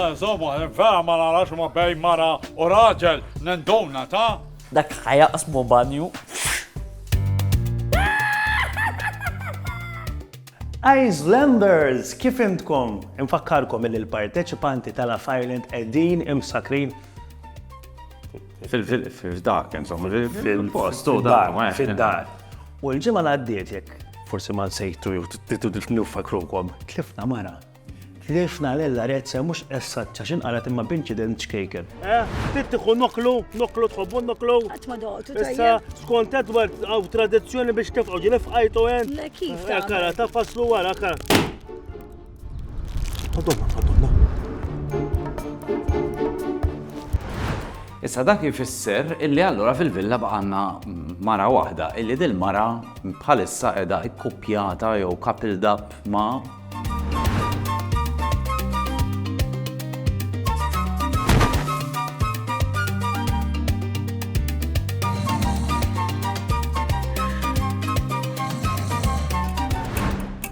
Insomma, vera ma narax ma bejn mara u raġel nenduna ta' dak ħajaqsmu banju. Icelanders, kif intkom? Infakkarkom li l-parteċipanti tal-Af Ireland qegħdin imsakrin fil-dak, insomma, fil-post, fil-dar. U l-ġimgħa li għaddiet jekk forsi ma nsejtu jew titu nifakrukom, tlifna mara. Tlifna Lella Rezza mhux essaċċa x'inqalet imma b'inċident ċkejken. Eh, trid tieħu noklu, noklu tħobbu noklu. Qatt ma doqtu Issa skont Edward hawn tradizzjoni biex tifqgħu ġieli fqajtu hemm. Le kif? Eh, kara ta' faslu wara kara. Madonna, madonna. Issa dak jfisser illi allura fil-villa baqanna mara waħda, illi dil-mara bħalissa edha ikkupjata jew coupled dab ma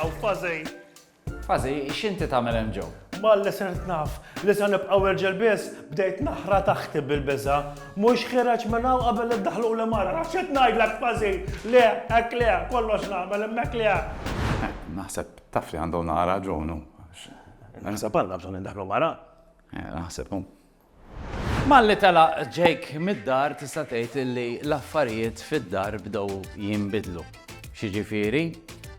Aw, fażej. Fażej, x'inti tagħmel hemm ġew? Malli sirt naf li se nibqgħu irġel biss, bdejt naħra taħti bil-biża. Mhux ħireġ minn hawn qabel iddaħlu li mara. Nafx qed ngħidlek fażi. Le, hekk le, kollox nagħmel hemmhekk le. Naħseb taf li għandhom nara ġonu. Naħseb għandna bżonn indaħlu mara. Eh, naħseb Malli telaq Jake mid-dar tista' tgħid li l-affarijiet fid-dar bdew jinbidlu. X'jiġifieri?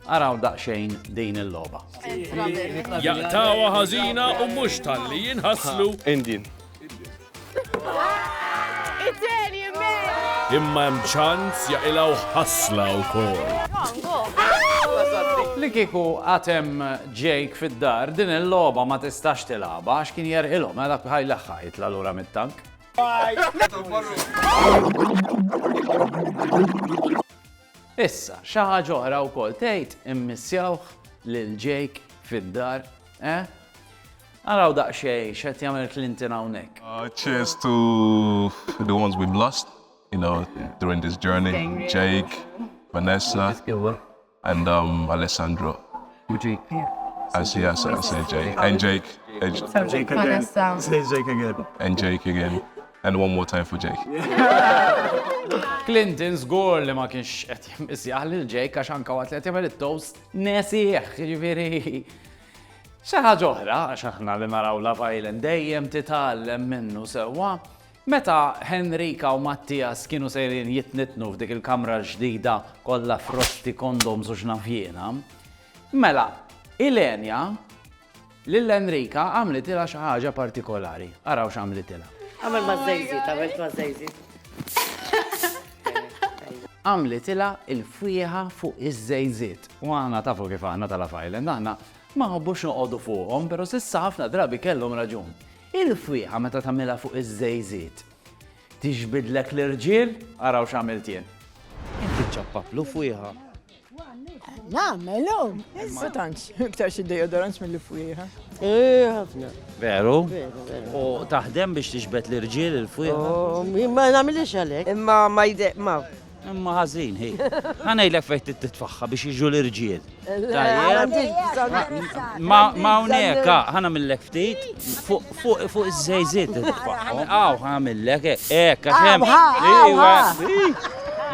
Araw daqsxejn din il-logħba. Jaqtgħuha ħażina u mhux talli jinħaslu. Indian. Imma hemm ċans jaqilgħu ħasla wkoll. Li kieku għad hemm Jake fid-dar, din il-logħba ma tistax tilgħabha għax kien jerħilhom, għela bħaj l-aħħa jitla' lura mit-tank. Issa, xi ħaġa oħra wkoll tgħid immissjawh lil Jake fid-dar, eh? Araw daqxej, xed jagħmel Clinton hawnhekk. Uh, cheers to the ones we've lost, you know, during this journey. Jake, Vanessa, And um, Alessandro. I'll see you, I'll see you, Jake. And Jake. And Jake. So Jake again. Vanessa. Say Jake again. And Jake again. And one more time for Jake. Clinton żgur li ma kienx qed jimmisjaħ lil Jake għax anke waqt li qed jagħmel it-toast nesih, jiġifieri xi ħaġa oħra għax aħna li naraw la violent dejjem titgħallem minnu sewwa. Meta Henrika u Mattias kienu sejrin jitnittnu f'dik il-kamra l-ġdida kollha frotti, kondoms u x'naf jiena, mela Ilenia lil Henrika għamlitilha xi ħaġa partikolari. Araw x'għamlitilha. Għamel maż-żejżiet, għamilt maż-żejżiet. Għamlitilha l-fwieħa fuq iż-żejżiet. U aħna tafu kif aħna ta' Love Island, aħna ma nħobbux noqogħdu fuqhom, però s'issa ħafna drabi kellhom raġun. Il-fwieħa meta tagħmilha fuq iż-żejżiet tixbidlek l-irġiel? Araw x'għamilt jien. Inti ċċappaplu fwieħa? Nagħmel hu. Ma tantx, iktar xi deodorants mill-fwieħa. Eh, ħafna. Veru? Veru, veru. U taħdem biex tixbed l-irġiel il-fwieħa? Oh, ma nagħmilx għalhekk. Imma ma jde, ma Imma ħażin hi. Ħa ngħidlek fejn trid titfaħħa biex jiġu l-irġiel. Ma hawnhekk, ah, ħa nagħmillek ftit fuq iż-żejżiet titfaħħa. Aw, ħa nagħmillek hekk għax hemm. Iwa.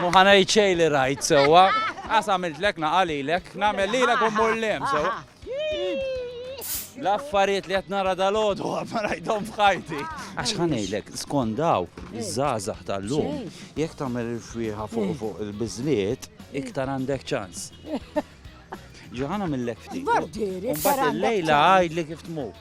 Mu ħa ngħid xejn li rajt sewwa. Għas għamiltlek naqalilek, nagħmel lilek u mmur lem sewwa. L-affarijiet li qed nara dal-għodu ma rajthom f'ħajti. Għax ħanejlek, skont daw, iż-żgħażagħ tal-lum, jekk tagħmel il-fwieħa fuq eh. fuq il-biżliet, iktar għandek ċans. Ġoħana mill-lek ftit. Bardieri, Mbagħad il-lejla għajdli kif tmur.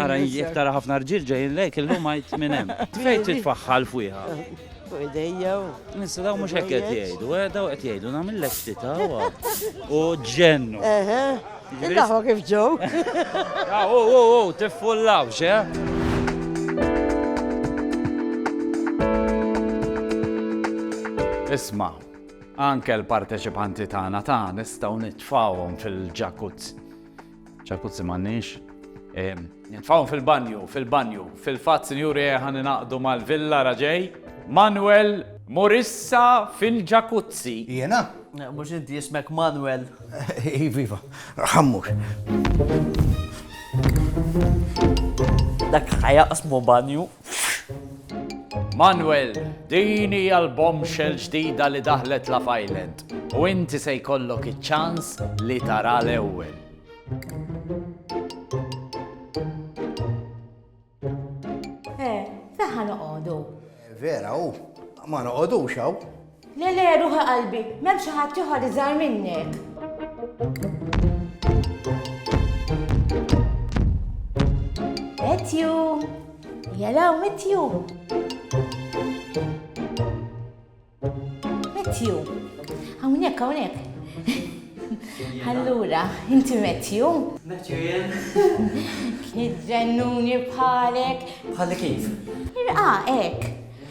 Ara, jek tara ħafna rġil ġejn lejk, illum għajt minn hemm. Fejn titfaħħal fuqha. Fuq idejja. Nissa daw mhux hekk qed jgħidu, eh, daw qed jgħidu nagħmillek xtita u ġennu. Daħwa kif ġew. Ah, u u u tiffullawx, eh? Isma, anke l-parteċipanti tagħna ta' nistgħu nitfawhom fil-ġakuzzi ċarkuzzi m'għandniex. Nitfawhom fil-banju, fil-banju. Fil-fatt, sinjuri, ħan naqdu mal-villa raġej. Manuel Morissa fil-ġakuzzi. Jena? Mux inti jismek Manuel. Iva, iva, ħammux. Dak ħajaqsmu banju. Manuel, din hija l-bombshell ġdida li daħlet Love Island u inti se jkollok iċ-ċans li taraha l-ewwel. Eh, fejn ħa noqogħdu? Vera, u ma noqogħdux hawn. Le le ruħi qalbi, m'hemm xi ħadd ieħor iżgħar minnek. Matthew! Jalaw Matthew! Matthew! Hawnhekk hawnhekk. Allura, inti Matthew? Matthew jien. Kien ġennuni bħalek. Bħalek kif? Irqa hekk.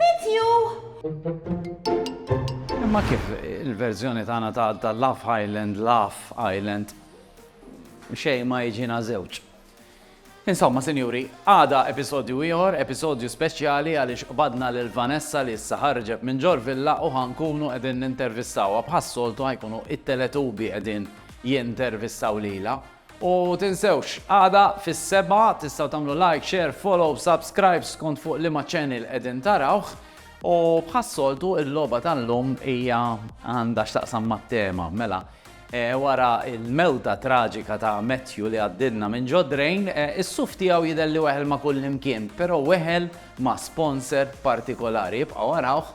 Met you! Imma kif il-verżjoni tagħna ta' Laugh Island, Laugh Island, xejn ma jiġina żewġ. Insomma, sinjuri, għada episodju ieħor, episodju speċjali għaliex qbadna lil Vanessa li issa ħarġet minn ġor villa u ħankunu qegħdin nintervistawha bħas-soltu ħajkunu it-teletubi qegħdin jintervistaw lila. U tinsewx, għada fis-sebgħa tistgħu tagħmlu like, share, follow, subscribe skont fuq liema channel qegħdin tarawh. U bħas-soltu il-logħba tal-lum hija għandha x'taqsam mat-tema. Mela, wara l-mewta traġika ta' Matthew li għaddilna minn ġo drain, is-suf tiegħu jidher li weħel ma' kullimkien, però weħel ma' sponsor partikolari. Ibqgħu arawh